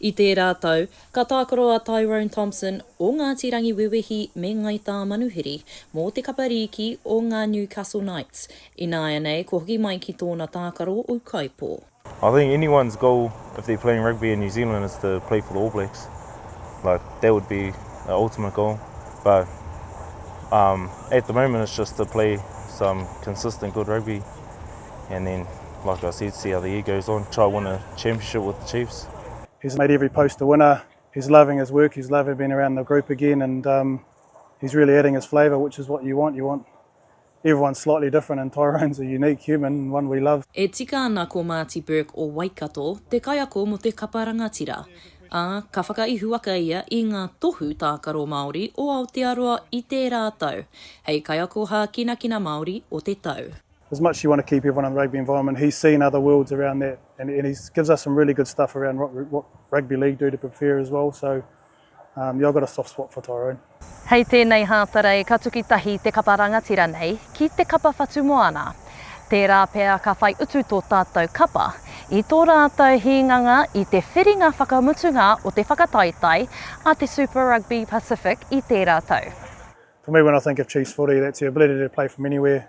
I tērā tau, ka tākaro a Tyrone Thompson, o Ngāti Rangiwewehi me Ngai Tāmanuhiri, mō te kapa rīki o ngā Newcastle Knights, ināianei kua hoki mai ki tōna tākaro ūkaipō. I think anyone's goal if they're playing rugby in New Zealand is to play for the All Blacks like that would be the ultimate goal but um at the moment it's just to play some consistent good rugby and then like I said see how the year goes on try win a championship with the Chiefs. He's made every post a winner. He's loving his work. He's loving being around the group again, and um, he's really adding his flavour, which is what you want. You want everyone's slightly different, and Tyrone's a unique human, one we love. E tika ana ko Marty Burke o Waikato te kaiako mō te kapa rangatira, ā, ka whakaihuwaka ia i ngā tohu tākaro Māori o Aotearoa i tērā tau, hei Kaiako Hākinakina Māori o te Tau. as much as you want to keep everyone in the rugby environment, he's seen other worlds around that, and, and he gives us some really good stuff around what, what rugby league do to prepare as well. So, um, yeah, I've got a soft spot for Tyrone. Hei tēnei hātara e ka tuki tahi te kapa rangatira nei ki te kapa whatumoana. Tērā pea ka whai utu tō tātou kapa i tō rātou hīnganga i te whiringa whakamutunga o te whakataetae a te Super Rugby Pacific i tērā tau. For me, when I think of Chiefs footy, that's the ability to play from anywhere.